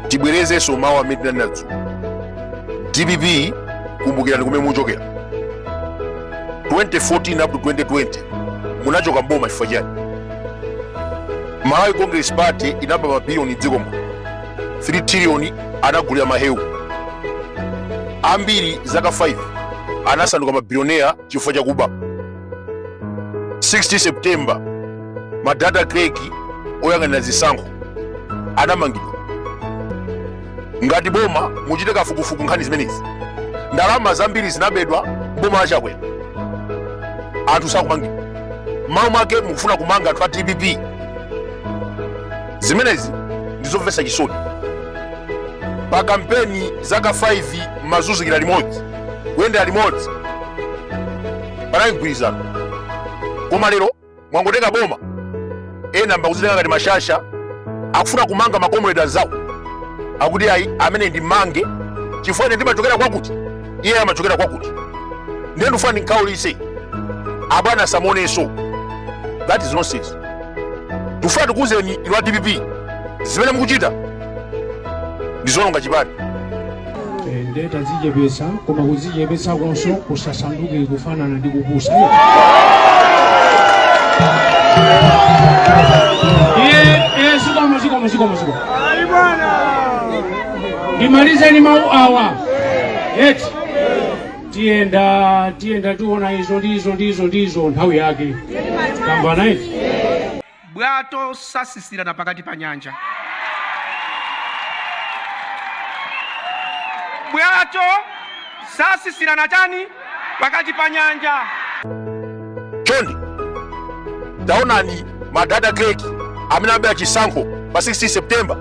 tibwerezenso mawu amene tinanena dzulo dpp kumbukirani kumene muchokera 2014 up to 2020 munachoka mboma chifukwa chani malawi congress party inaba mabiliyoni mdziko muno 3 triliyoni anagulira mahewu ambiri zaka 5 anasanduka mabiliyoneya chifukwa chakuba 16 september madata clerk oyang'anira zisankho anamangidwa ngati boma muchite kafukufuku nkhani zimenezi ndalama zambiri zinabedwa boma la chakwera anthu sakumangidwa m'malo mwake mukufuna kumanga anthu a dpp zimenezi ndizomvetsa chisoni pa kampeni zaka 5 mmazunzikira limodzi kuyendera limodzi panali mgwirizano koma lero mwangotenga boma ena mbakuzitenga ngati mashasha akufuna kumanga makomredi anzawo akuti ayi amene ndimmange chifukwa ine ndimachokera kwakuti iye amachokera kwakuti ndiye ndifuna ndimkhaulitse abwana asamuonenso that is nonsense tifuna tikuuzeni inu a dpp zimene mukuchita ndizononga chipani nde tazichepesa koma kuzichepesakonso kusasanduke kufanana ndi kupusa zikomo zikomo zikomo zikomo ndimalize ndi mawu awa eti tiyenda tiyenda tiona izo ndizo ndizo ndizo nthawi yake tamva naiti bwato sasisirana pakati pa nyanja. Bwato sasisirana chani pakati pa nyanja. Chonde taonani madata clerk amene amabera chisankho pa 16 September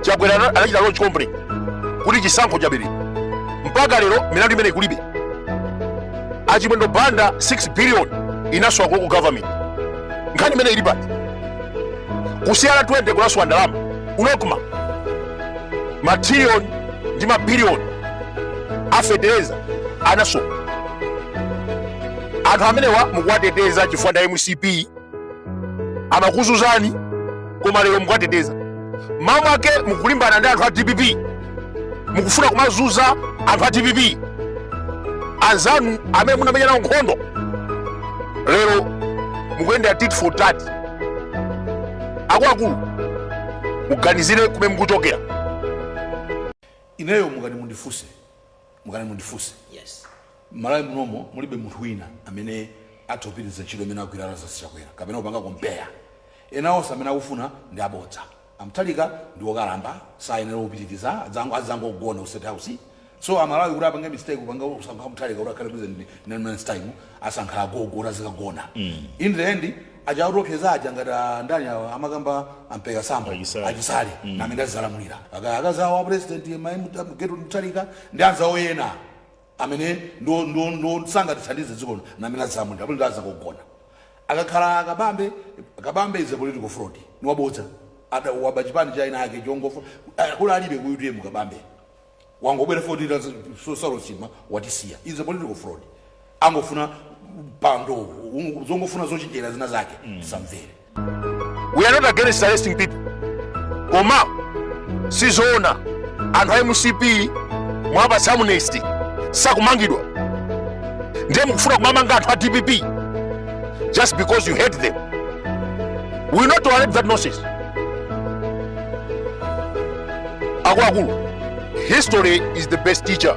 Chakwera ana- anachita launch complaint kuti chisankho chaberedwa mpaka lero milandu imeneyi kulibe a Chimwendo Banda 6 billion inasowa ku government nkhani imeneyi ili pati kusiyana 20 kunasowa ndalama ku nocma matriliyoni ndi mabiliyoni a fetereza anasowa anthu amenewa mukuwateteza chifukwa ndi a mcp amakuzunzani koma lero mukuwateteza m'malo mwake mukulimbana ndi anthu a dpp mukufuna kumazuza anthu a dpp anzanu amene munamenya nawo nkhondo lero mukuyendera tit for tat akuluakulu muganizire kumene mukuchokera ineyo mukanati mundifunse mukanati mundifunse yes malawi munomo mulibe munthu wina amene atha kupitiriza ntchito imene agwira lazarus chakwera kapena kupanga kompeya enawo onse amene akufuna ndi abodza A Mutharika ndi okalamba sayenela kupitiliza azangogona ku state house so amalawi kuti apange mistake kupanga kusankha Mutharika kuti akhale president next time asankha agogo kuti azikagona in the end aja akutiopseza aja ngati a ndani awa amakamba a Mpeka Sambo a Chisale. a Chisale ndi amene azalamulira akazi a president ma- Mut- Gertrude Mutharika ndi anzawo ena amene ndo ndo ndo sangatithandize dziko lino na amene azamu ndi amene azangogona akakhala kabambe kabambe is a political fraud ni wabodza adawaba chipani cha eni ake chongofuna kukula alibe ku UTM kabambe wangobwera atafa Saulos Chilima watisiya is a political fraud angofuna mpando zongofuna zochenjera zina zake samvere we are not against arresting people koma sizoona anthu a mcp mwapatsa amnesty sakumangidwa ndiye mukufuna kumamanga anthu a dpp just because you hate them we will not tolerate that nonsense akuluakulu history is the best teacher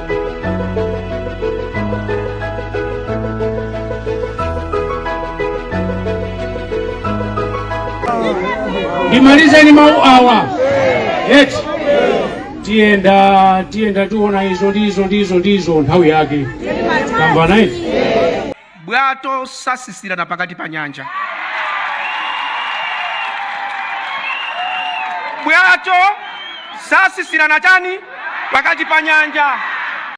ndimalize ndi mawu awa eti tiyenda tiyenda tiona izo ndizo ndizo ndizo nthawi yake tamvana eti bwato sasisirana pakati pa nyanja. Bwato satsitsirana chani pakati pa nyanja.